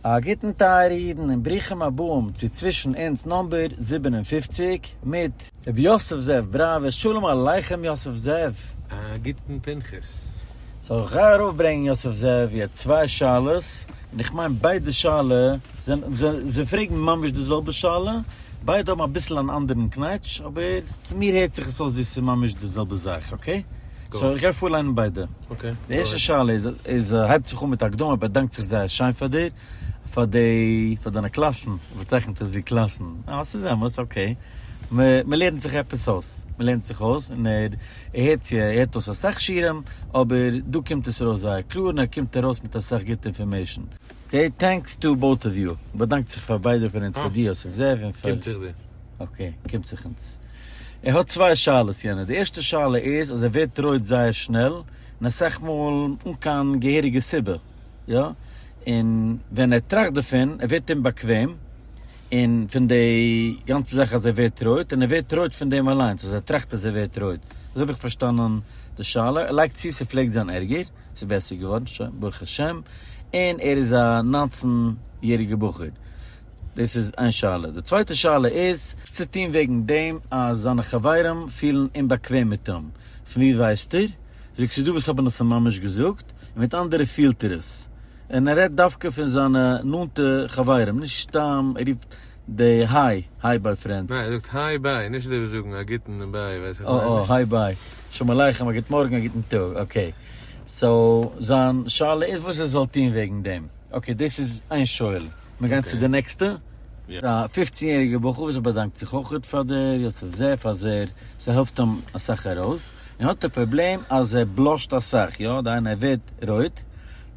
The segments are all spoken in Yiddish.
א גוטן טייערע אידן און ברוכים הבאים צו צווישן אונז נאמבער זיבן און פֿופֿציק מיט. רבי יוסף זאב בראווער. שלום עליכם יוסף זאב. א גוטן פנחס. זאל איך גיי ארויף ברענגן יוסף זאב יעצט צוויי שאלות און איך מיין ביידע שאלה זענען זיי פרעגן ממש די זעלבע שאלה ביידע האבן אביסל אן אנדערן קנייטש, אבער צו מיר הערט זיך עס אויס ווי עס איז ממש די זעלבע זאך, אקעי? סאו איך גיי פארליינען ביידע. די ערשטע שאלה איז איז הייבט זיך אן מיט א הקדמה, באדאנקט זיך זייער שיין פאר דיר, פאר די, פאר דיינע קלאסן, ער באצייכנט עס ווי קלאסן, אה ס'איז אמת, אקעי, מ, מ'לערנט זיך עפעס אויס, מ'לערנט זיך אויס, און ער, ער הערט צו, ער הערט אויס אסאך שיעורים, אבער דא קומט עס ארויס זייער קלאר און ער קומט ארויס מיט אסאך גוטע אינפארמעישן. אקעי טענקס טו באוט אוו יו. באדאנקט זיך פאר ביידע פון אונז פאר די אז איך זעה און פאר. קומט זיך דיר. אקעי קומט זיך אונז. ער האט צוויי שאלות יענער, די ערשטע שאלה איז אז ער ווערט רויט זייער שנעל און אסאך מאל אן קיין געהעריגע סיבה יא, און ווען ער טראכט דערפון ער ווערט אומבאקוועם און פון די גאנצע זאך אז ער ווערט רויט און ער ווערט רויט פון דעם אליינס אז ער טראכט אז ער ווערט רויט, אזוי האב איך פארשטאנען די שאלה, ער לייגט צו ס'פלעגט זיין ערגער. ס'איז בעסער געווארן שוין ברוך השם, און ער איז א נײַנצן יעריגע בחור, דאס איז איין שאלה, די צווייטע שאלה איז. האט צו טון וועגן דעם אז זיינע חברים פילן אומבאקוועם מיט אים, פון ווי ווייסט איר? זאגט ס'איז דא וואס האבן עס אים ממש געזאגט, און מיט אנדערע פילט ער עס, און ער רעדט דווקא פון זיינע נאנטע חברים, נישט סתם ער רופט די היי, היי ביי פרענדס. ניין ער זאגט היי ביי, נישט אזוי ווי זאגן א גוטן און ביי ווייס איך אוי אוי היי ביי, שלום עליכם, א גוט מארגן, א גוטן טאג, אקעי. סאו זיין שאלה איז וואס ער זאל טון וועגן דעם. אקעי דאס איז איין שואל. מיר גייען צו די נעקסטע. א פופצן יעריגער בחור וואס באדאנקט זיך אויך פאר די יוסף זאב אז ער ס'העלפט אים אסאך ארויס. און האט א פראבלעם אז ער בלאשט אסאך, יא דיין ער ווערט רויט,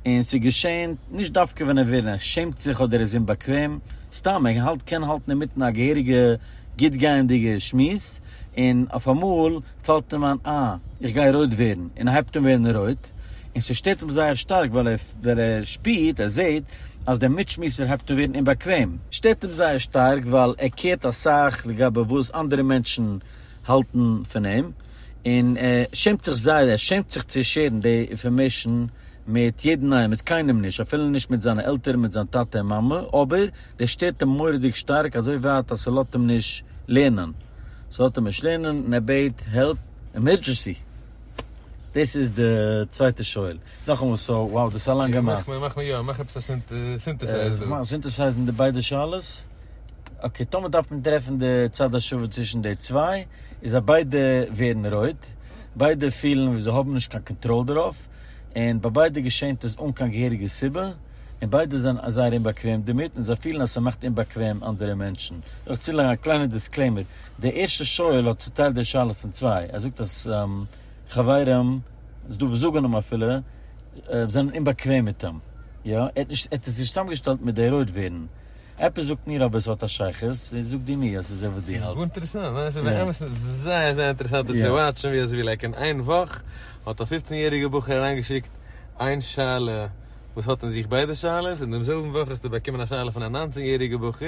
און ס'איז געשען, נישט דווקא ווען ער וויל, ער שעמט זיך אדער ער איז אומבאקוועם, סתם ער האלט קען האלטן אינמיטן א געהעריגע גוט גייענדיגע שמועס, און אויף אמאל פאלט אים איין אה, איך גיי רויט ווערן, און ער הייבט אן ווערן רויט, און ס'שטערט אים זייער שטארק ווייל ער שפירט, ער זעט, אז דער מיטשמועסער הייבט אן ווערן אומבאקוועם. שטערט אים זייער שטארק ווייל ער קערט אסאך לגבי וואס אנדערע מענטשן האלטן פון אים, און ער שעמט זיך זייער, ער שעמט זיך צו שערן די אינפארמעישן מיט יעדן איינעם, מיט קיינעם נישט, אפילו נישט מיט זיינע עלטערן, מיט זיין טאטע און מאמע, אבער דאס שטערט אים מורא'דיג שטארק, אזוי ווייט אז ס'לאזט אים נישט לערנען, ס'לאזט אים נישט לערנען, און ער בעט העלפ, עמערדזשענסי! דאס איז די צווייטע שואל. נאכאמאל סאו וואו דאס איז א לאנגע מעשה. מאך מיר יא, מאך עפעס א סינטעסייז דא. מאכן סינטעסייזן די ביידע שאלות. אקעי, טאמער דארף מען טרעפן די צד השווה צווישן די צוויי, איז אז ביידע ווערן רויט, ביידע פילן ווי זיי האבן נישט קיין קאנטראל דערויף, און ביי ביידע געשענט עס אן קיין געהעריגע סיבה, און ביידע זענען זייער אומבאקוועם דערמיט, און זיי פילן אז ס'מאכט אומבאקוועם אנדערע מענטשן. זאל איך צולייגן א קליינע דיסקלעימער, דער ערשטער שואל האט צוטיילט די שאלות אין צוויי, ער זאגט אז. חברים, ס'איז דא וואס זאגן אים אפילו, זענען אומבאקוועם מיט אים. יא, ער האט נישט, ער האט עס נישט צוזאמגעשטעלט מיט די רויט ווערן. עפעס זאגט מיר אבער ס'האט א שייכות, זאג דו מיר אז ס'איז אזוי וואס דו האלטסט. ס'איז גאר אינטערעסאנט, ניין? ס'איז באמת זייער זייער אינטערעסאנט עס צו וואטשן, ווי אזויווי לייק אין איין וואך האט א פופצן יעריגער בחור אריינגעשיקט איין שאלה וואס האט אין זיך ביידע שאלות, און דעם זעלבן וואך האסטו באקומען א שאלה פון א ניינצן יעריגער בחור,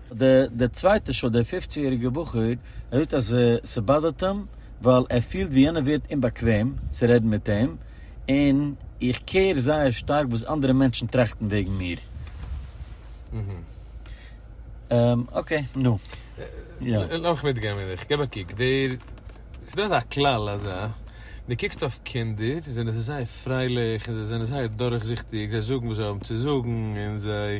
די די צווייטע שול דער פֿופֿצן יעריגער בחור ער זאגט אז ס'באדערט אים ווייל ער פילט ווי יענער ווערט אומבאקוועם צו רעדן מיט אים און איך קעיר זייער שטארק וואס אנדערע מענטשן טראכטן וועגן מיר. אקעי נו יא. לאמיך מיטגיין מיט דיך, געב א קוק, דער ס'דא אזא כלל אזא, די קוקסט אויף קינדער זענען זיי זייער פרייליך און זיי זענען זייער דורכזיכטיג זיי זאגן וואס זיי האבן צו זאגן און זיי.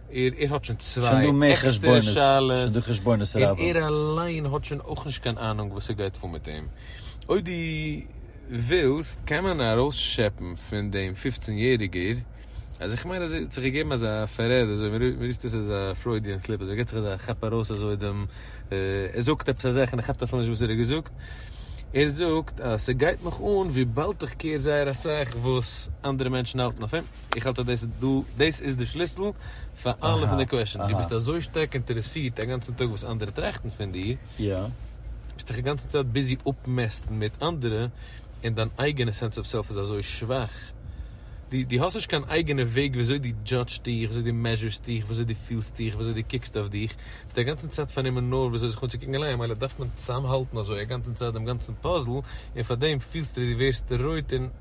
איר איר האט שוין צוויי עקסטערע שאלות, און איר אליין האט שוין אויך נישט קיין אהנונג וואס עס גייט פאר מיט אים. אויב דו ווילסט קען מען ארויסשעפן פון דעם פופצן יעריגער, אז איך מיין אז ער האט זיך געגעבן אזא פארעד אזוי, מען רופט דאס אזא פרוידיען סליפ, אזוי ער געט זיך אזא כאפ ארויס אזוי דעם, ער זאגט עפעס א זאך און ער כאפט אפילו נישט וואס ער האט געזאגט, ער זאגט אז ס'גייט מיך אן וויבאלד איך קעיר זייער אסאך וואס אנדערע מענטשן האלטן אויף אים. איך האלט אז דאס איז דא, דאס איז די שליסל פאר אלע פון די קוועשאן, דו ביסט אזוי שטארק אינטערעסירט א גאנצן טאג וואס אנדערע טראכטן פון דיר, ביסט דיך א גאנצע צייט ביזי אפמעסטן מיט אנדערע, און דיין אייגענע סענס אוו סעלף איז אזוי שוואך, דו דו האסט נישט קיין אייגענע וועג ווי אזוי דו דזשאדזשסט דיך, ווי אזוי דו מעזשורסט דיך, ווי אזוי דו פילסט דיך, ווי אזוי דו קוקסט אויף דיך, ביסט א גאנצן צייט פארנומען נאר ווי אזוי זיך אנצוקוקן אליין, ממילא דארף מען צוזאמהאלטן אזוי א גאנצן צייט דעם גאנצן פאזל, און פאר דעם פילסטו ווי דו ווערסט רויט און.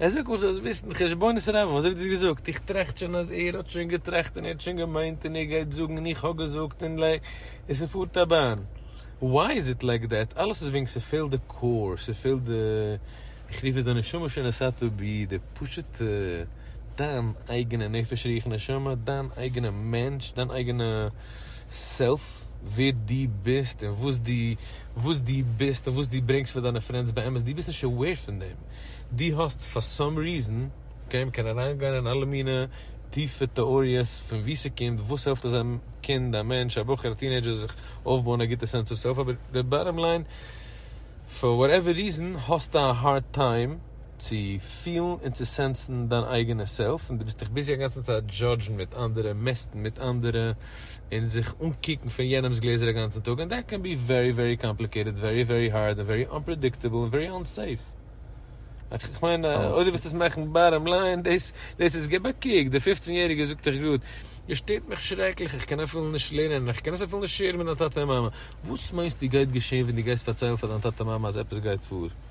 ער זאגט מען זאל עס וויסן, חשבונות רבים, וואס האב איך דאס געזאגט? איך טראכט שוין אז ער האט שוין געטראכט און ער האט שוין געמיינט און ער גייט זאגן און איך האב געזאגט און לע און ס'פארט א באן. וואי איז איט לייק דעט? אלעס איז וועגן ס'פעלט די קאור, ס'פעלט די, איך רוף עס די נשמה שנשאתה בי, די פשוט'ע, דיין אייגענע נפש רוח נשמה, דיין אייגענע מענטש, דיין אייגענע סעלף, ווער דו ביסט און וואס דו וואס דו ביסט און וואס דו ברענגסט פאר דיינע פרענדס באמת, דו ביסט נישט עוועיר פון דעם. דו האסט פאר סאם ריזען קיין מקום אריינגיין אין אלע מינע טיפע טעאריעס פון וואו ס'קומט, וואס העלפט אז א קינד, א מענטש, א בחור, א טינעידזשער זיך אויפבויען א גוטע סענס אוו סעלף, אבער די באטאם ליין, פאר וואטעווער ריזען האסטו א הארד טיים צו פילן און צו סענסן דיין אייגענע סעלף, און דו ביסט דיך ביזי אגאנצן צייט דזשאדזשן מיט אנדערע, מעסטן מיט אנדערע. און זיך אנקוקן פון יענעמס גלעזער א גאנצן טאג, און דעט קען בי ווערי ווערי קאמפליקעיטעד, ווערי ווערי הארד, און ווערי אנפרעדיקטעבל, און ווערי אנסעיף. איך מיין אויב דו ווילסט עס מאכן באטאם ליין, דאס דאס איז, גיב א קוק, די פופצן יעריגע זאגט דיך גראד, עס שטערט מיך שרעקליך, איך קען אפילו נישט לערנען, איך קען עס אפילו נישט שעירן מיט מיין טאטע און מאמע. וואס מיינסטו גייט געשען ווען דו גייסט פארציילן פאר דיין טאטע מאמע אז עפעס גייט פאר?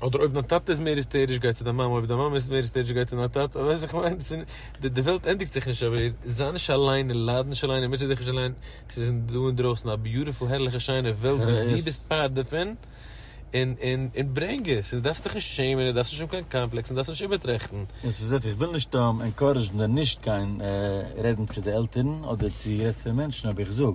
אדער אויב דיין טאטע איז מער היסטעריש גיי צו דיין מאמע אויב דיין מאמע איז מער היסטעריש גיי צו דיין טאטע ווייסט וואס איך מיין דאס איז נישט די וועלט ענדיגט זיך נישט אבער זיי נישט אליין און לייד נישט אליין און מוטשע דיך נישט אליין עס איז דא אינדרויסן א ביוטיפול הערליכע שיינע וועלט וואס דו ביסט פארט דערפון און און און ברענג עס און דו דארפסט דיך נישט שעמען און דארפסט נישט האבן קיין קאמפלעקס און דארפסט נישט איבערטראכטן. און ס'איז איך וויל נישט ענקארעזשן די נישט גיין רעדן צו די עלטערן אדער צו גרעסערע מענטשן אבער איך זאג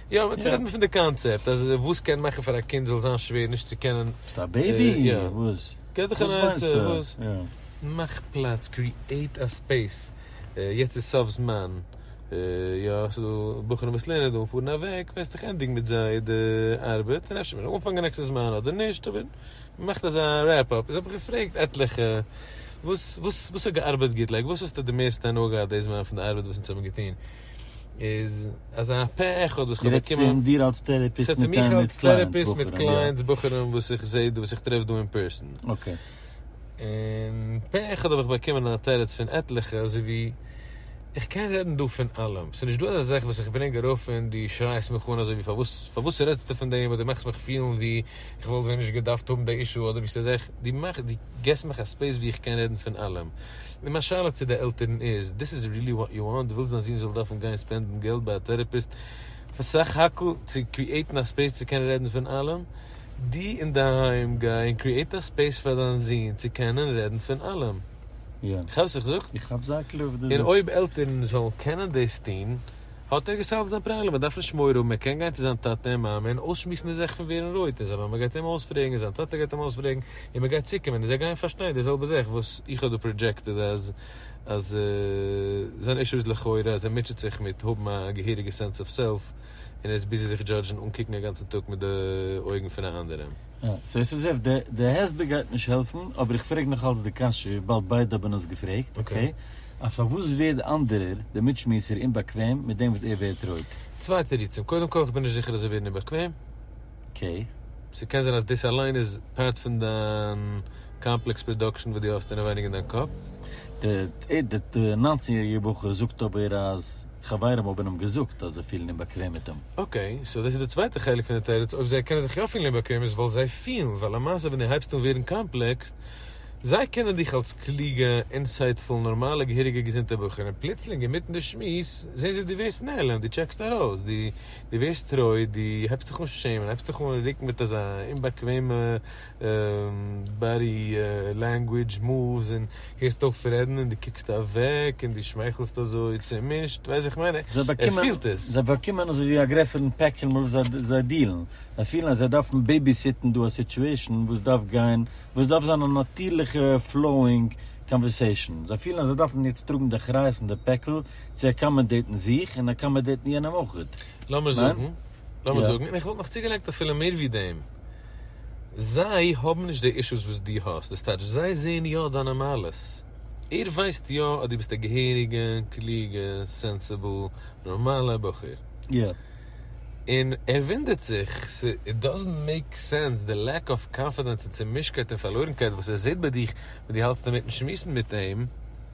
יא, מען צורעדט מיר פון די קאנצעפט, אז וואס קען מאכן פאר א קינד זאל זיין שווער נישט צו קענען. ביסט א בעיבי? וואס? געב דיך אן עצה, וואס? מאך פלאץ, קריעיט א ספעיס, יעצט איז סוף זמן, יא, ס'דא בחורים וואס לערנען דא און פארן אוועק, וועסט דאך ענדיגן מיט זיי די ארבעט, און אפשר מער אנפאנגען נעקסטע זמן אדער נישט, אבער מאכט אזא רעפ אפ. איז האב איך געפרעגט עטליכע, וואס, וואס, וואס האט געארבעט גוט, לייק וואס האסטו די מערסטע הנאה געהאט די זמן פון די ארבעט וואס אונז האבן געטון? איז אז אין א פה אחד וואס כ'האב באקומען, מ'רעדט צו דיר אלס טערעפיסט מיט קלייענטס, בחורים, יא, כ'רעד צו מיך אלס טערעפיסט מיט קלייענטס, בחורים, וואס איך זע דא, וואס איך טרעף דא אין פערסאן, אקעי. און פה אחד האב איך באקומען א תירוץ פון עטליכע אזוי ווי, איך קען רעדן דא פון אלעם, ס'נישט דא אזא זאך וואס איך ברענג ארויף און דו שרייסט מיך אן אזוי ווי פארוואס פארוואס רעדסטו פון דעם אדער דו מאכסט מיך פילן ווי איך וואלט ווען נישט געדארפט האבן די אישו אדער ווי ס'איז עכט, דו געסט מיך א ספעיס ווי איך קען רעדן פון אלעם. און מיין שאלה צו די עלטערן איז, דיס איז ריעלי וואט יו וואנט? דו ווילסט דיין זון זאל דארפן גיין ספענדן געלט ביי א טעראפיסט פאר סך הכל צו קריעטן א ספעיס צו קענען רעדן פון אלעם? דו אינדערהיים גיי און קריעט א ספעיס פאר דיין זון צו קענען רעדן פון אלעם. יא. כאפסט וואס איך זאג? איך כאפ זייט לויט וואס דו זאגסט. און אויב עלטערן זאלן קענען דאס טון. האט ער געסאלווט זיין פראבלעם, ער דארף נישט מורא האבן, ער קען גיין צו זיין טאטע און מאמע און אויסשמועסן די זעך פון ווערן רויט און זיי מאמע גייט אים אויספרעגן און זיין טאטע גייט אים אויספרעגן און מען גייט צוקומען און זיי גייען פארשטיין די זעלבע זעך וואס איך האב דא פראדזשעקטעד אז אז זיין אישו איז לכאורה אז ער מוטשעט זיך מיט האבן א געהעריגע סענס אוו סעלף און ער איז ביזי זיך דזשאדזשן און קוקן א גאנצן טאג מיט די אויגן פון א אנדערעם. סאו יוסף זאב, די הסבר גייט נישט העלפן, אבער איך פרעג נאכאלץ די קשיא וויבאלד ביידע האבן עס געפרעגט, אקעי, אז פארוואס ווערט די אנדערער, דער מיטשמועסער, אומבאקוועם מיט דעם וואס ער ווערט רויט? צוויי תירוצים, קודם כל איך בין נישט זיכער אז זיי ווערן אומבאקוועם. אקעי. ס'קען זיין אז דאס אליין איז פארט פון דיין קאמפלעקס פראדאקשען וואס דו האסט אינעווייניג אין דיין קאפ. דער נײַנצן יעריגער בחור זאגט אבער אז. חברים האבן אים געזאגט אז זיי פילן אומבאקוועם מיט אים. אקעי, סאו דאס איז די צווייטע חלק פון די תירוץ, אויב זיי קענען זיך יא פילן אומבאקוועם איז ווייל זיי פילן, ווייל למעשה ווען דו הייבסט אן ווערן קאמפלעקסד, זיי קענען דיך אלס קלוגע, אינסייטפול, נארמאלע, געהעריגע, געזונטע בחור, און פלוצלינג אינמיטן די שמועס זעהן זיי דו ווערסט נעלם, דו טשעקסט ארויס, דו דו ווערסט רויט, דו הייבסט דיך אן שעמען, הייבסט דיך אן רוקן מיט אזא אומבאקוועמע. באדי לענגווידזש, מאווס, און הערסט אויף רעדן און דו קוקסט אוועק און דו שמייכלסט אזוי צעמישט, ווייסט איך מיין, ער פילט עס. זיי באקומען אזוי ווי א גרעסערן פעקל מיט וואס זיי דילן, זיי פילן אז זיי דארפן בעיביסיטן דא א סיטועשן וואס דארף גיין, וואס דארף זיין א נאטירליכע פלאואינג קאנווערסעישן, זיי פילן אז זיי דארפן יעצט טראגן די אחריות און די פעקל צו אקאמאדעיטן זיך און אקאמאדעיטן יענעם אויך. לאמיר זאגן לאמיר זאגן, און איך וואלט נאך צוגעלייגט אפילו מער ווי דעם, זיי האבן נישט די אישוס וואס דו האסט, דאס טייטש זיי זעען יא דיינע מעלות, ער ווייסט יא אז דו ביסט א געהעריגע קלוגע סענסעבל נארמאלע בחור, און ער וואונדערט זיך, איט דאזענט מעיק סענס די לעק אוו קאנפידענס און צומישקייט און פארלוירנקייט וואס ער זעט ביי דיך ווען דו האלטסט אינמיטן שמועסן מיט אים.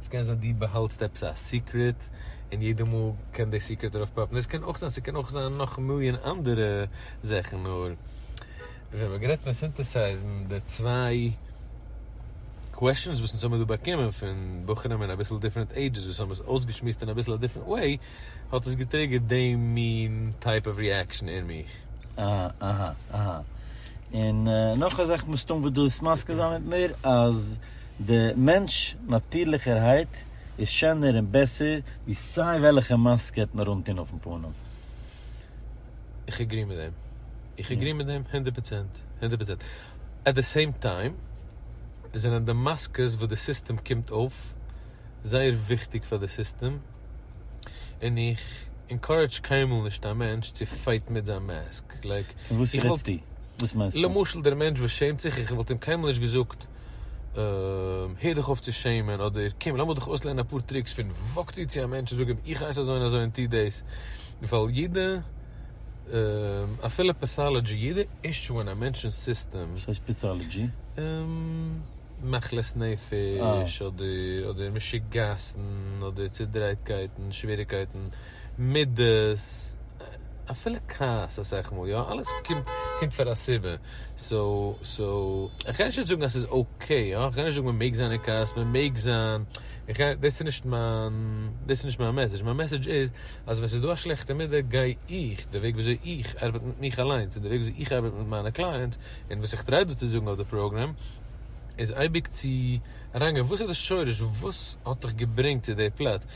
עס קען זיין דו באהאלטסט עפעס א סיקרעט און יעדע מאל קען די סיקרעט ארויף פאפן, דאס קען אויך זיין, ס'קען אויך זיין נאך מיליאן אנדערע זאכן, נאר ווען מ'האט גערעדט פון סינטעסייזן די צוויי קוועשאנס וואס אונז האבן דא באקומען פון בחורים אין אביסל דיפרענט עידזשעס וואס האבן עס אויסגעשמועסט אין אביסל א דיפרענט וועי, האט עס געטריגערט די מין טייפ אוו ריעקשאן אין מיך. אהה אהה אהה און נאך א זאך מסתם וועט דאס מסכים זיין מיט מיר אז. די מענטש נאטירליכערהייט איז שענער און בעסער ווי סיי וועלכע מאסק ער וועט נאר אנטון אויפן פנים. איך עגרי מיט דעם. איך עגרי מיט דעם הונדערט פראצענט. הונדערט פראצענט. עט די סעים טיים זענען די מאסקעס וואס די סיסטעם קומט אויף זייער וויכטיג פאר די סיסטעם און איך ענקארעדזש קיינמאל נישט א מענטש צו פייטן מיט זיין מאסק. לייק איך וואלט למשל דער מענטש וואס שעמט זיך איך וואלט אים קיינמאל נישט געזאגט הער דיך אויף צו שעמען, אדער קום לאמיר דיך אויסלערנען אפאר טריקס פון וואק צו צו א מענטש און זאג אים איך הייס אזוי און אזוי און טו דאס, ווייל יעדע אפילו פעטאלעדזשי, יעדע אישו אין א מענטש'נס סיסטעם. וואס הייסט פעטאלעדזשי? מחלות נפש, אדער משוגעת'ן, אדער צודרייטקייטן, שוועריקייטן, מידות. אפילו כעס אסאך מאל יא, אלעס קומט פאר א סיבה, סאו סאו איך קען נישט זאגן אז ס'איז אקעי, איך קען נישט זאגן מען מעג זיין אין כעס, מען מעג זיין, דאס איז נישט מיין, דאס איז נישט מיין מעסעדזש, מיין מעסעדזש איז אז ווען ס'איז דא א שלעכטע מידה גיי איך, די וועג ווי אזוי איך ארבעט מיט מיך אליינס און די וועג ווי אזוי איך ארבעט מיט מיינע קלייענטס און וואס איך טריי דא צו זאגן אויף די פראגרעם איז אייביג צו אריינגיין וואס איז די שורש, וואס האט דיך געברענגט צו די פלאץ.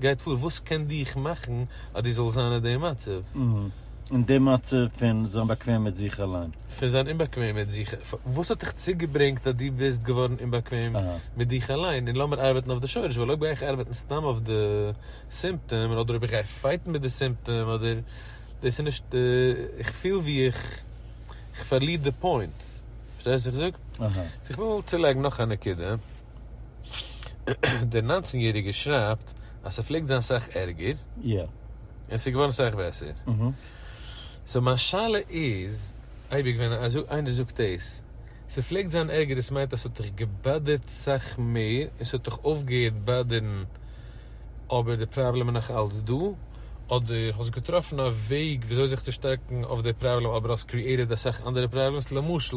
גייט פאר וואס קען דיך מאכן אז דו זאלסט זיין אין די מצב. אין די מצב פון זיין באקוועם מיט זיך אליין. פון זיין אומבאקוועם מיט זיך. וואס האט דיך צוגעברענגט אז דו ביסט געווארן אומבאקוועם מיט דיך אליין? און לאמיר ארבעטן אויף די שורש, ווייל אויב גיי איך ארבעטן סתם אויף די סימפטאם, אדער אויב איך גיי פייטן מיט די סימפטאם, אדער, דאס איז נישט, איך פיל ווי איך איך פארליר די פוינט. פארשטייסט וואס איך זאג? סאו איך וויל צולייגן נאך א נקודה. דער נײַנצן יעריגער שרייבט אז ס'פלעגט זיין סאך ערגער און ס'איז געווארן סאך בעסער. סאו מיין שאלה איז אייביג ווען איינער זאגט דאס ס'פלעגט זיין ערגער דאס מיינט אז ס'האט דיך געבאדערט סאך מער און ס'האט דיך אויפגעהערט באדערן אבער די פראבלעם איז נאך אלץ דא אדער האסט געטראפן א וועג וויאזוי זיך צו שטארקן אויף די פראבלעם אבער האסט קריעטעד אסאך אנדערע פראבלעמס למשל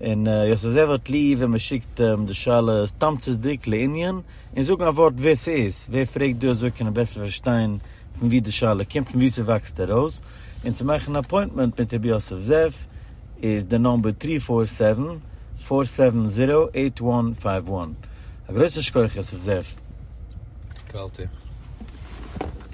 און יאָס איז ער וואָרט לי ווען מע שיקט אים די שאלות תּמצותדיק, לענין, און זאָגן אַ וואָרט ווער ס'איז, ווער פֿרעגט דו אַזוי קענען בעסער פֿאַרשטיין פֿון וואו די שאלה קומט, פֿון וואו ס'וואַקסט אַרויס, און צו מאַכן אַן אַפּוינטמענט מיט רבי יוסף זאב איז די נומבער טרי פֿאָר סעווען, פֿאָר סעווען זיראָו, עיט וואַן פֿייוו וואַן. אַ גרויסן שכּוח יוסף זאב. קאַלטע.